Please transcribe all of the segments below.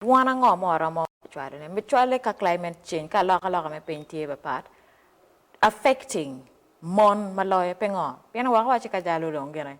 Twon ango ma waromo cwalone? Me cwalle ka climate change, ka alokaloka me piny tye bapat, affecting mon ma loyo. Pingo? Pien weko wacci ka jalo dong gine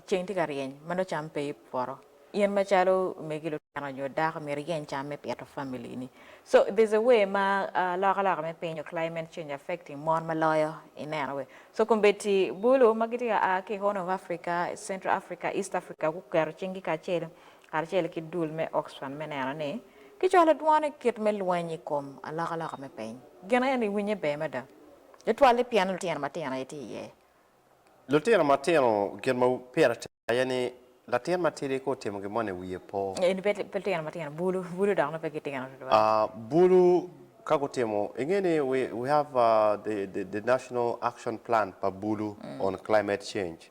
ceng tye ka ryeny ma nongo cam pe i poto, in macalo omegi lutino nyo dako myero iyeny cam me pito family ni. So there's a way ma alokaloka me piny nyo climate change affecting mon ma loyo i neno wek. So kombeddi bulu ma gitye ka a ki i Horn of Africa, Central Africa, East Africa guketo cinggi kacel kacel ki dul me Oxfam me neno ni kicwalo dwono i kit me lweny i kom alokaloka me piny. Gin aye ni winye ber mada tutwal ni pien lutino matino aye tye iye. Lutino matino gin ma pire tek aye ni latin matidi ka otimo gin mo ni wiye po. Eni pe lutino matino, bulu, bulu dok nongo pe gitino tutwal. Bulu ka gutimo, inge ni we have the national action plan pa bulu on climate change.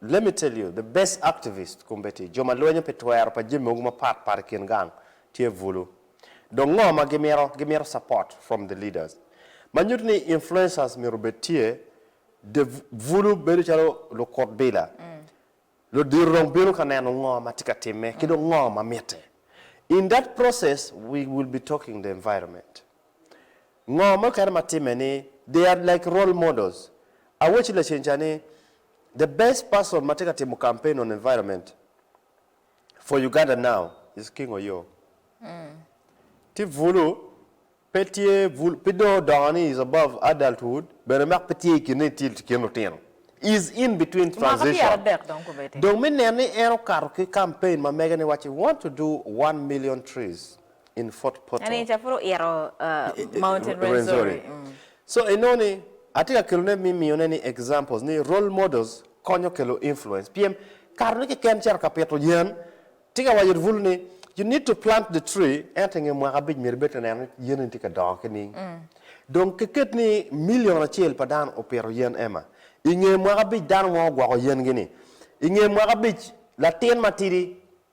Let me tell you the best activist combetti jo malwenyo pi twero pa jami mogo mapat pat ikin gang tye bulu dong ngo ma gimito gimito support from the leaders manyuto ni influencers myero obed tye the bulu bedo calo lukut bila ludito dong bino ka neno ngo ma tye ka time ki dong ngo ma mitte in that process we will be talking the environment ngo mukene ma time ni they are like role models awaci lacen ca ni The best person matye ka timo campaign on environment for Uganda now is King Oyoo. Tye bulu, pe tye bulu, pe dong odongo ni is above adulthood, bene mak pe tye ikine tye ikin lutino. Is in between transition. Dong me neno ni en okato ki campaign ma mege ni waci want to do one million trees in Fort Portal. Rwenzori. So inongo ni atye ka kelone me miyone ni examples ni role models konyo kelo influence pien karone keken cito ka pito yen tye ka waco bulu ni you need to plant the tree ento inge mwaka abic myero ibed ka neno ni yen eni tye ka dongo ki ning. Dong kiket ni million acel pa dano opito yen ema inge mwaka abic dano mo ogwoko yen gi ni inge mwaka abic latin matidi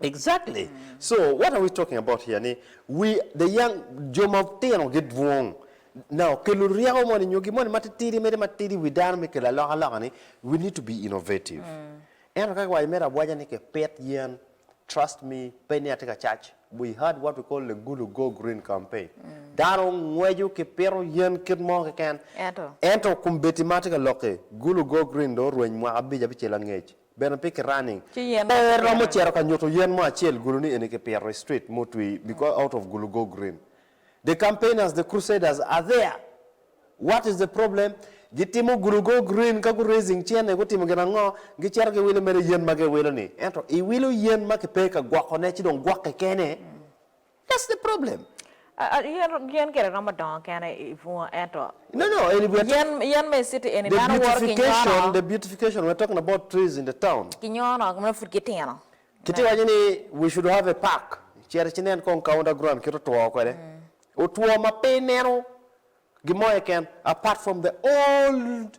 Exactly so what are we talking about here ni we the young jo ma tino gi dwong now kelo ryeko moni nyo gin moni ma titidi mere ma tidi i wi dano me kelo aloka loka ni we need to be innovative ento ka kiwaco mere abwaja ni ki pit yen trust me pe ni atye ka cac we had what we call the gulu go green campaign dano ngweco ki pito yen kit mo keken Ento. ento kombeddi ma atye ka lok-ki gulu go green dong orweny mwaka abic abicel angec Bene pe ki running. Ci yen Pe i romo cito ka nyuto yen mo acel gulu ni eni ki pito i street mo twi because out of gulu go green. The campaigners, the crusaders are there. What is the problem? Gi timo gulu go green ka gu raising cene gu timo gin ango? Gi cito gi wilo mere yen ma ge wilo ni. Ento i wilo yen ma ki pe ka gwoko ne ci dong gwokke kene. That's the problem. Yen kere romo dongo kene i bunga ento. No no eni we are talking. Yen me city eni dano woto ki nyono. The beautification we are talking about trees in the town. Ki nyono ma pud ki tino. Ki tye waco ni we should have a park cito ci nen kong ka underground kit otwo kwede otwo ma pe ineno gin mo keken apart from the old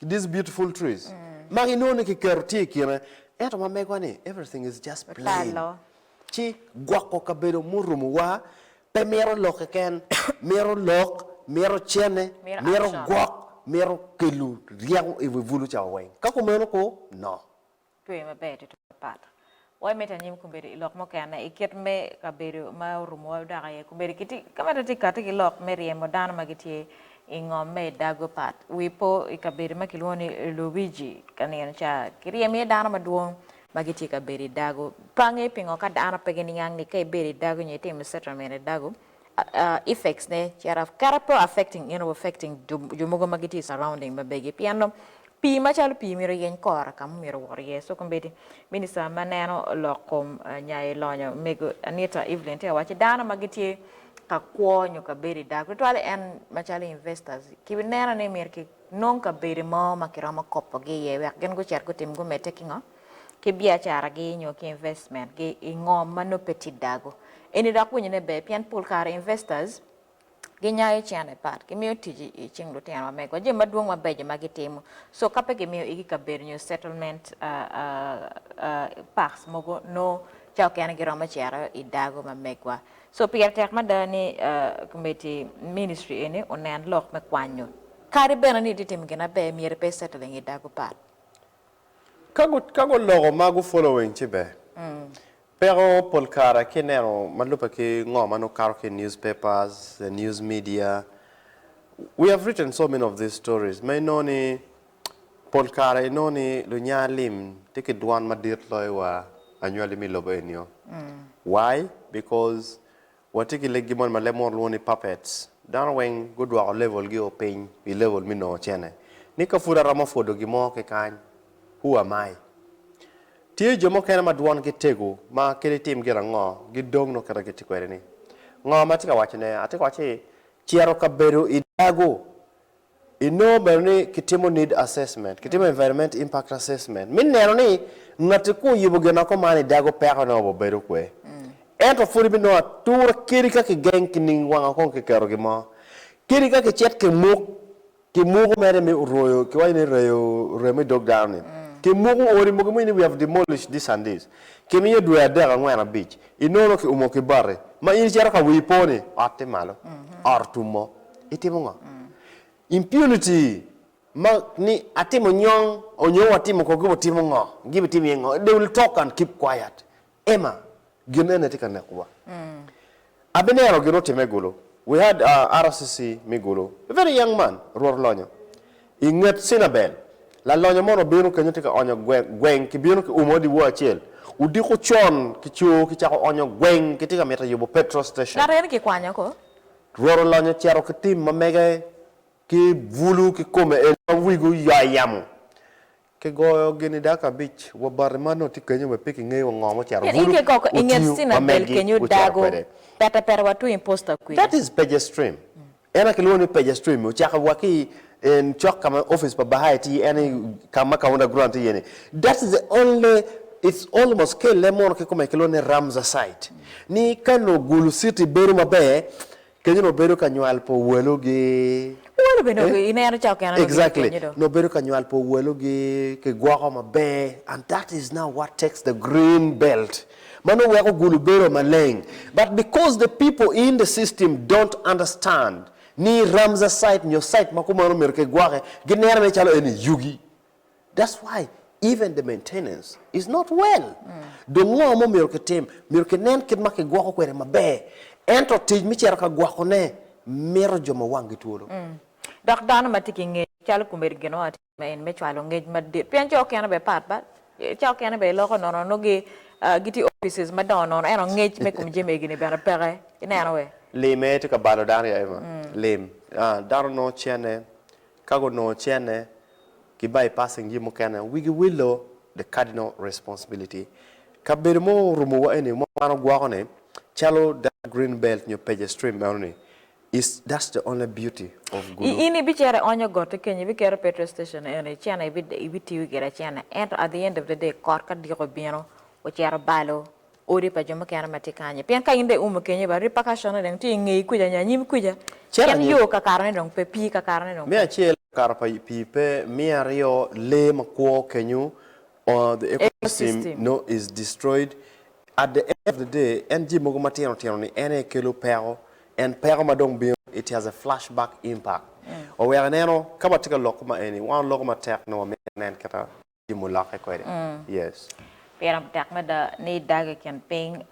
These beautiful trees ma inongo ni kiketo tye i kine, ento ma megwa ni everything is just plain ci gwoko kabedo murumo wa pe mito lok keken mito lok mito cene mito gwok mito kelo ryeko i wi bulu ca wa weng ka kumeno ko no. tweyo maber tutwal pat wa i medo anyim kombeddi i lok mukene i kit me kabedo ma orumo wa dok aye kombeddi ki ka ma tye kati ki lok me ryemo dano ma gitye i ngom me dago pat wi po i kabedo ma kilwongo ni Luigi ka nino ca giryemo iye dano madwong ma gitye kabedo i dago pangi pingo ka dano pe giniang ni ka ibedo i dago nyo itimo settlement i dago effects ne cito kadi pe affecting in affecting jo mogo ma gitye surrounding ma begi pien nongo pii macalo pii myero oyeny kore ka ma omyero owot iye so kombeddi minister ma neno lok kom nya i lonyo mego Anita Evelyn tye ka waci dano ma gitye ka kwo nyo kabedo i dag tutwal en macalo investors kibineno ni myero kinong kabedo mo ma kiromo kopogi iye wek gin gucit gutim gumedde ki ngo? ki biacaragi nyo ki investmentgi i ngom ma nongo pe tye dago. Eni dok winyone ber pien pol kare investors ginyayo cene pat gimiyo tic i cing lutino wa megwa, jami madwong mabeco ma gitimo. So ka pe gimiyo igi kabedo nyo settlement parks mogo nongo ca okene giromo cito i dago ma megwa. So pire tek mada ni komiti ministry eni onen lok me kwanyo kadi bene ni itye timo gin maber myero pe i settling i dago pat. Ka gu loko ma gu following ci ber. Peko pol kare ki neno ma lubbe ki ngo ma nongo kato ki news papers, the news media. We have written so many of these stories ma inongo ni pol kare inongo ni lunya lim tye ki dwan madit loyo wa anywali me lobo enio. Why? Because Watye ki leggi moni ma leb munu lwongo ni puppets. Dano weng gudwoko level gi o piny pi level me nongo cene. Ni ka pud aromo pwodo gin mo ki kany, who am I? Tye jo mukene ma dwon gi tego ma kit itim gin ango gi dong nongo kit ma gitye kwede ni. Ngo ma atye ka waco ne? Atye ka waco ni cito kabedo i dago Inongo bene ni kitimo need assessment, kitimo environment impact assessment me neno ni ngati ku oyubo ginoko man i dago peko onongo wa obedo kwe. Ento pud ibinongo atura kadi ka kigeng ki ning wanga kong kiketo gin mo, kadi ka kicit kimuk ki muku mere me royo kiwaco ni reyo rem mo i dog dano ni, kimuku odi mogo iwinyo ni we have demolished this and this, kimiyo dwe adek, angwen, abic, inongo dong kiumo ki bati ma in icito ka wii po ni ot tye malo, ot otum mo. itimo ngo? Impunity ma ni atimo nyong onyo watimo kor gibo timo ngo? Gibi timo iye ngo? They will talk and keep quiet. Emma, gin eni tye ka neko wa. Abinero gin otime i Gulu. We had a RCC me Gulu, a very young man, Rwot Lonyo. I nget Cinabel, Lalonyo mono obino kenyo tye ka onyo gweng ki bino ki umo odi wo acel. Odiko con ki co ki cako onyo gweng ki tye ka mito yubo petrol station. Ngat eni ki kwanyo ko? Rwot olonyo cito ki tim ma mege ki bulu kikome en. Ma wigi oyoyo yamo ki goyo gin i dako abic wa bati ma nongo tye kenyo bene pe kingeyo wa ngo ma ocito Pien in bulu kekoko i nget otiyo ma Cinabel megi kenyo gucito dago, kwede. peta peta watung i posta kwir. That is Pejestrim. En aye kilwongo ni Pejestrim, ocako wa ki En cok ka ma office pa Baha'i tye iye en aye ka ma Kaunda Ground tye iye ni. That is the only it's almost kelle mono ki kome kilwongo ni Ramza site ni ka nongo Gulu city bedo maber kenyo nongo bedo ka nywal pa owalu gi Owalu bene eh ineno ca okene nongo gibedo exactly kenyo do. nongo bedo ka nywal pa owalu gi ki gwoko maber and that is now what takes the green belt ma nongo weko Gulu bedo maleng but because the people in the system don't understand Ni Ramza site nyo site ma kumeno omyero ki gwake, gi neno ne calo en i yugi. That's why even the maintenance is not well. Dong ngo ma omyero ki tim? Myero ki nen kit ma ki gwoko kwede maber. Ento tic me cito ka gwako ne mito jo ma wang gi twolo. Dok dano ma tye ki ngec calo komedi gin o atir. ma en me cwalo ngec madit pien jo okene bene pat pat ca okene bene iloko nono nongo gi gitye i offices madongo nono ento ngec me kom jami egini bene peke ineno wee. Lim aye tye ka balo dano ya ema lim dano nongo cene ka gunongo cene ki by passing jami mukene wigi wilo the cardinal responsibility kabedo mo orumo wa eni ma wan ogwoko ni calo dark green belt nyo page stream meno ni Is that's the only beauty of gulu. In ibicito ionyo gotti kenyo ibiketo petrol station eno iceno ibitiyo i giracene ento at the end of the day kot ka dyeko bino ocito balo odi pa jo mukene ma tye kany-nyi pien ka in dong iumo kenyo ba repercussion-ne dong tye i ngeyi kuca nyo anyim kuca pien yo kakatone dong pe, pii kakatone dong pe. Me acel, kato pa pii pe, me aryo lee makwo kenyo or the ecosystem no is destroyed at the end of the day en ji mogo matino tino ni en aye kelo peko and peko ma dong bino it has a flash back impact oweko ineno ka watye ka loko ma eni wan oloko matek nongo wamito wanen kita jami olokke kwede yes. Pire tek mada ni dago i kin piny.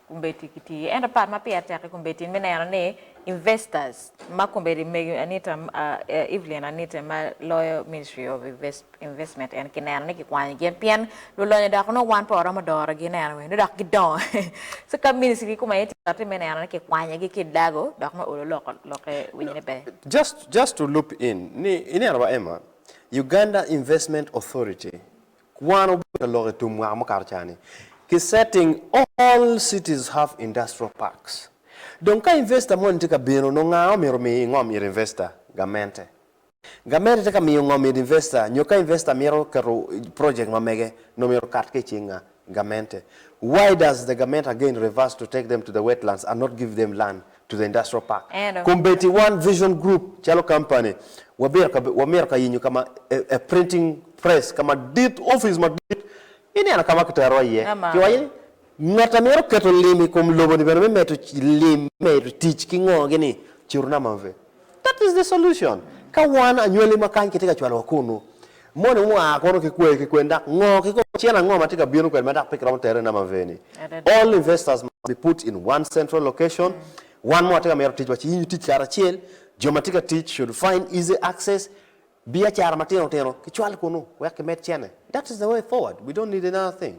Kombeddi ki tii. Ento part ma pire tek i kombeddi me neno ni investors ma kombeddi megi Anita Evelyn Anita ma loyo ministry of investment en ki neno ni ki kwanyo gin pien lulonyo dok onongo wan pe waromo doro gi neno weng ni dok gi dongo so ka ministry ki kome aye tye ka time neno ni ki kwanyo gi ki dago dok me olo loko loke winyo ni ber. Just just to loop in ni ineno wa Emma Uganda investment authority Wan obedo ka lok i tum mwaka mukato cani ki setting all cities have industrial parks. Dong ka investor moni tye ka bino nongo nga omyero omi i ngom it investor? Gamente. Gamente tye ka miyo ngom it investor nyo ka investor mito keto project ma mege nongo myero okat ki i cing nga? Gamente. Why does the gament again reverse to take them to the wetlands and not give them land to the industrial park. Ento. Combeti One Vision Group calo kampani, wabito ka, wamito ka yenyo ka ma, a, a printing press, ka madit, office madit. Ineno ka ma kiterowa iye. Amaa. Kiwaco ni, Ngat a mito keto lim i kom lobo-ni bene me medo lim, me medo tic ki ngo-gi-ni, cito Namanville. That is the solution. Ka wan anywali ma kany kitye ka cwalowa kunu, moni mua kunu ki kwer ki kwen dok ngo ki kor cen ango ma tye ka bino kwede ma dok pe kiromo tere i nama bene ni? Adada. All investors must be put in one central location. Wan mua tye ka mito ticwa ci inyo tic karacel. Jo ma tye ka tic should find easy access. Biacara matino tino kicwal kunu wek kimed cene. That is the way forward. We don't need any other thing.